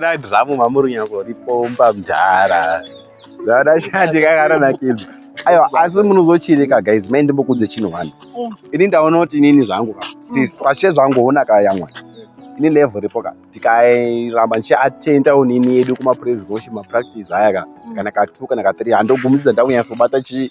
Dai zvamu mamurunyako ripomba mdhara. Zvaona shanje kakaranakidza. Ayo asi munozochireka guys maende mbokudze chinhu vanhu. Ini ndaona kuti inini zvangu ka. Sis pashe zvangu ona ka yamwa. Ini level ripo ka. Tikairamba nchi attenda unini yedu kuma praise worship ma practice haya ka. Kana ka 2 kana ka 3 handogumisa ndakunyasa kubata chi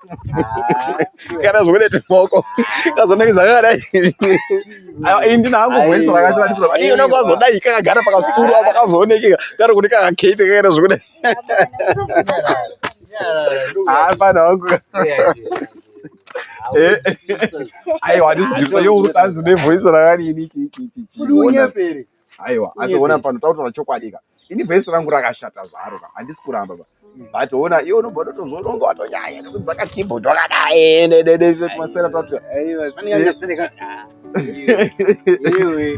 kana zvokuita maoko kazonenge zvakadai ini ndina hangu voice rakashandiswa but iye unenge wazodai kakagara pakasituru apo kazoonekeka kari kuti kakakeite kakaita zvokudai hapana hangu aiwa ndisijusa yo utanzi nevoice rakadini chichichichiona aiwa asi ona pano tautaura chokwadi ka ini vhesi rangu rakashata zvaro ka handisi kuramba ba but ona iwe unobva utozoronga watonyanya nekudzaka keyboard wakadai nededemasera tatuya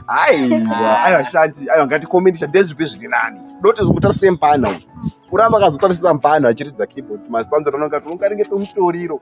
aiwa aiwa shati aiwa ngatikomendisha ndezvipi zviri nani doti zikuta sempana kuramba akazotarisisa mpano achiridza keyboard mastanza tanonga tongaringe tomutoriro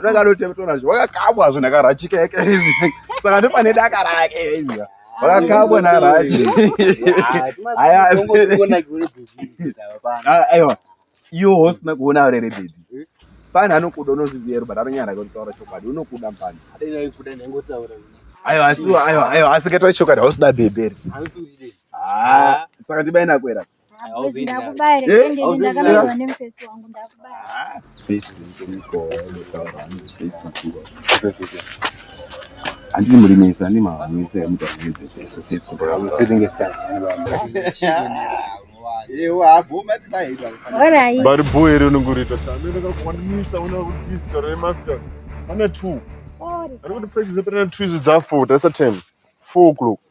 ndakanotemtora zve wakakamwa zve ndakarachika yake saka ndopane daka rake izva wakakamwa narachi aiwa iwo hosina kuona ure rebhebhi fani anokuda unozviziva ero but anonyara kutaura chokwadi unokuda mfani aiwa asiwo aiwa aiwa asi kataura chokwadi hausida bhebheri saka ndibainakwera andiri murimesa ane mahamisa emutaridze pese pese bari bho here unenge uriita shandoakakuwanisa una kutisi karo remafia ana two ari kuti practice apana two izvi dzafour tasa time four o'clock